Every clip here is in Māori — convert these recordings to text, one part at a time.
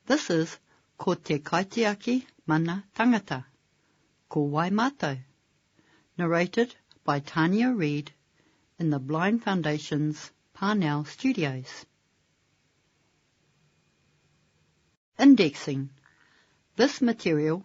This is Ko te kaitiaki mana tangata. Ko wai matou? Narrated by Tania Reid in the Blind Foundation's Parnell Studios. Indexing This material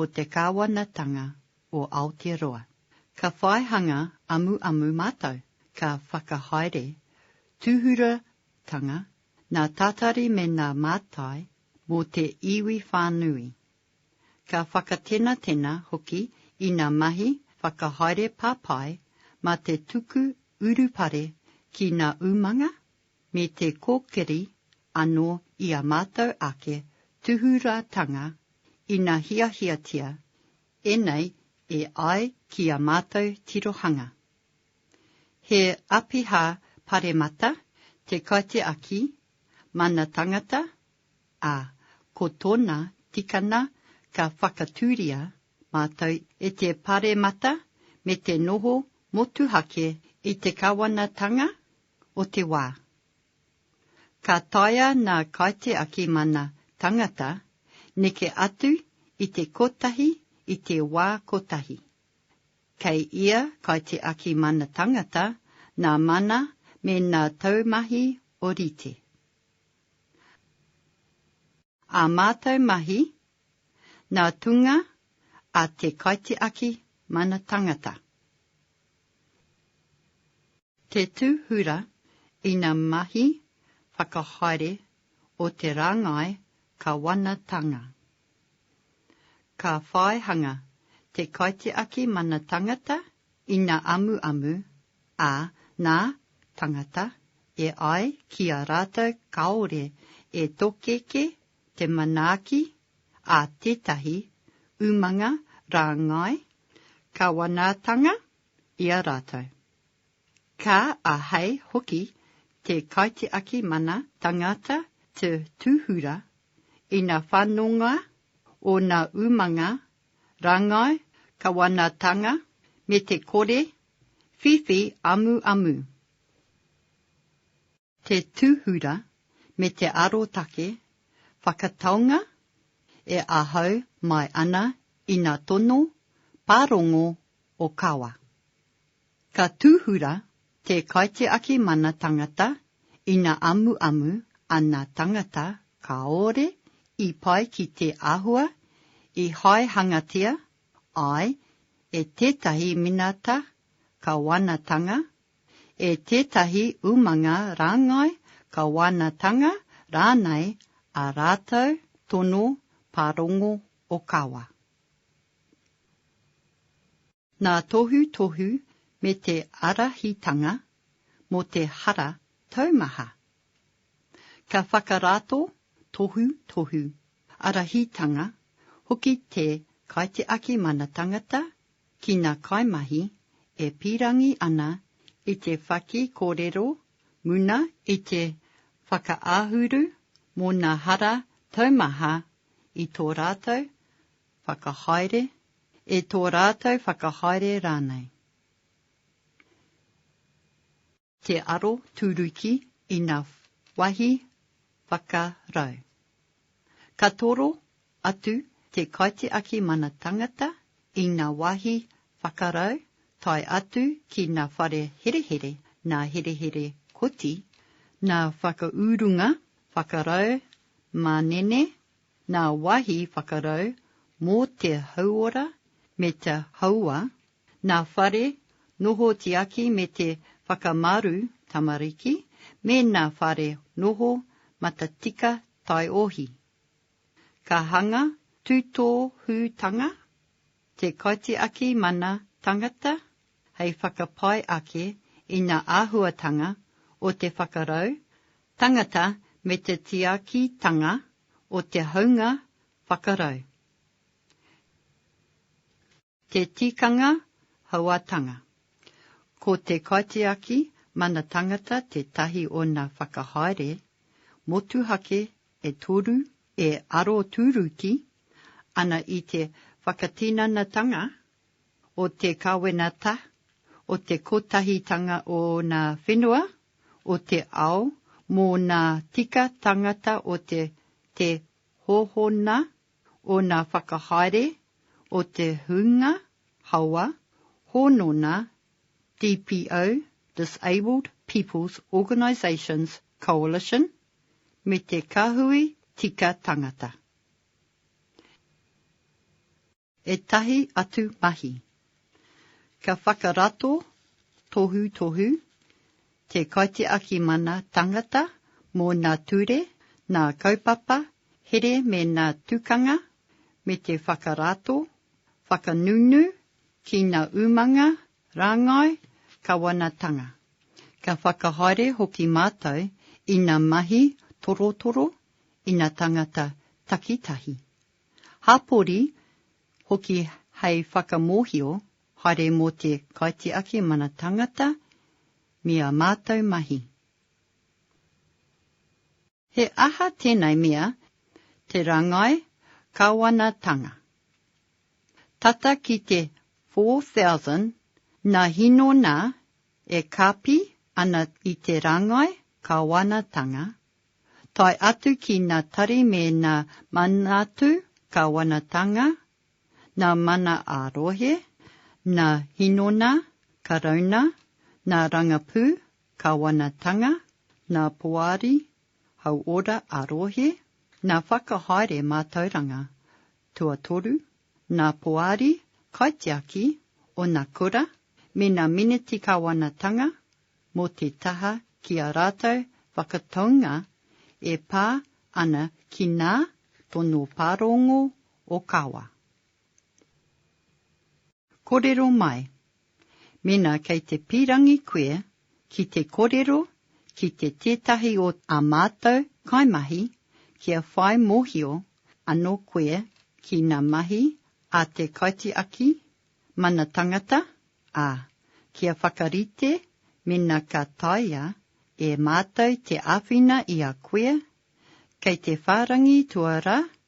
o te Kāwanatanga o Aotearoa. Ka whai hanga amuamu mātou, ka whakahaere tūhuratanga nā tātari me nā mātai mō te iwi whānui. Ka whakatenatena hoki i nā mahi whakahaere papai mā te tuku urupare ki nā umanga me te kōkiri anō i ā mātou ake tūhurātanga ina hiahiatia ēnei e ai ki ā mātou tirohanga. He āpiha paremata te kaitiaki mana tangata, ā, ko tōna tikanga ka whakatūria mātou e te paremata me te noho motuhake i te kawanatanga o te wā. Ka taea ngā kaitiaki mana tangata neke atu i te kotahi i te wā kotahi. Kei ia kaitiaki mana tangata ngā mana me ngā taumahi orite. Ā mātou mahi, ngā tūnga a te kaitiaki mana tangata. Te tūhura ina mahi whakahaere o te rāngai kawanatanga. Ka whai hanga te kaitiaki mana tangata ina amuamu, ā, nā, tangata, e ai ki a rātou kāore e tokeke te manaaki a tētahi umanga rāngai kawanatanga i a rātou. Ka ahei hoki te kaitiaki mana tangata te tūhura ina whanonga ōna umanga rangai kawanatanga me te kore whiwhi amuamu. Te tūhura me te arotake whakataunga e ahau mai ana i nā tono pārongo o Kawa. Ka tūhura te kaitiaki mana tangata ina amuamu ana tangata kāore i pai ki te āhua i haehangatia ai e tētahi minata kawanatanga e tētahi umanga rāngai, kawanatanga rānei ā rātou tono pārongo ōkawa. Ngā tohutohu me te ārahitanga mō te hara taumaha. Ka whakarato tohutohu ārahitanga hoki te Kaitiaki Mana Tangata ki ngā kaimahi e pīrangi ana i te whaki kōrero muna i te whakaahuru mō ngā hara taumaha i tō rātou whakahaere, e tō rātou whakahaere rānei. Te aro turuki i nga wahi whakarau. Ka toro atu te kaitiaki mana tangata i nga wahi whakarau tae atu ki na whare herehere, na herehere koti, na whakaurunga whakarau manene, na wahi whakarau mo te hauora me te haua Nā Whare, Noho Tiaki me te Whakamaru Tamariki, me Nā Whare, Noho Matatika Taiohi. Ka hanga tūtōhūtanga te Kaitiaki Mana Tangata hei whakapai ake i ngā āhuatanga o te whakarau tangata me te tiakitanga o te haunga whakarau. Te Tikanga Hauātanga Ko te Kaitiaki Mana Tangata tētahi o nā whakahaere motuhake e toru e arotūruki ana i te whakatinanatanga o te Kawenata o te Kotahitanga o nā Whenua o te Ao mō nā Tika Tangata o te Te Hōhona ōna whakahaere o te hunga hawa hōnona DPO, Disabled People's Organisations Coalition, me te Kahui Tika Tangata. Ētahi atu mahi. Ka whakarato tohutohu te Kaitiaki Mana Tangata mō nā ture, nā kaupapa, here me nā tukanga, me te whakarato, whakanunu, tīna umanga, rāngai, kawanatanga. Ka whakahaere hoki mātou i nā mahi torotoro, i nā tāngata takitahi. Hāpori hoki hei whakamōhio haere mō te kaitiaki mana tāngata me ā mātou mahi. He aha tēnei mea, te rangai kawanatanga? Tata ki te 4000 na hinona e kapi ana i te rangai kawanatanga, tae atu ki na tari me na manatu kawanatanga, na mana a rohe, na hinona karauna, na rangapu, Kawanatanga, nā Poari, Hauora a Rohe, nā Whakahaere Mātauranga, tuatoru, nā Poari, Kaitiaki, ōna kura, me nā Meneti Kawanatanga, mō te taha ki a rātou whakataunga e pā ana ki nā Tono Pārongo o Kawa. Korero mai. Mena kei te pirangi koe ki te korero ki te tetahi o a matou kaimahi kia whai mohio ano koe ki na mahi a te kaitiaki mana tangata, a, kia whakarite mena ka taea e matou te awhina i a koe, kei te wharangi tua ra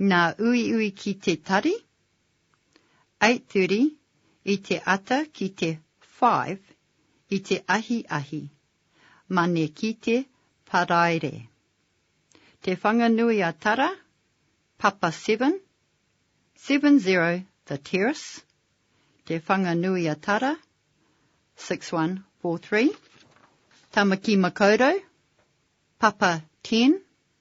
Nā Uiui ki te tari, 8.30, i te ata ki te 5, i te ahiahi, mane ki te Paraire. Te Whanganui a Tara, Papa Seven, 70 The Terrace, Te Whanganui a Tara, 6143. Tamaki Makaurau, Papa Ten,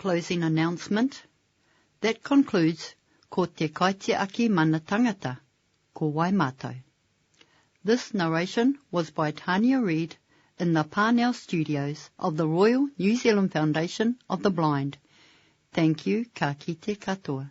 Closing announcement That concludes Ko te Kaitiaki Mana Tangata, Ko Wai Mātou? This narration was by Tania Reid in the Parnell Studios of the Royal New Zealand Foundation of the Blind. Thank you, ka kite katoa.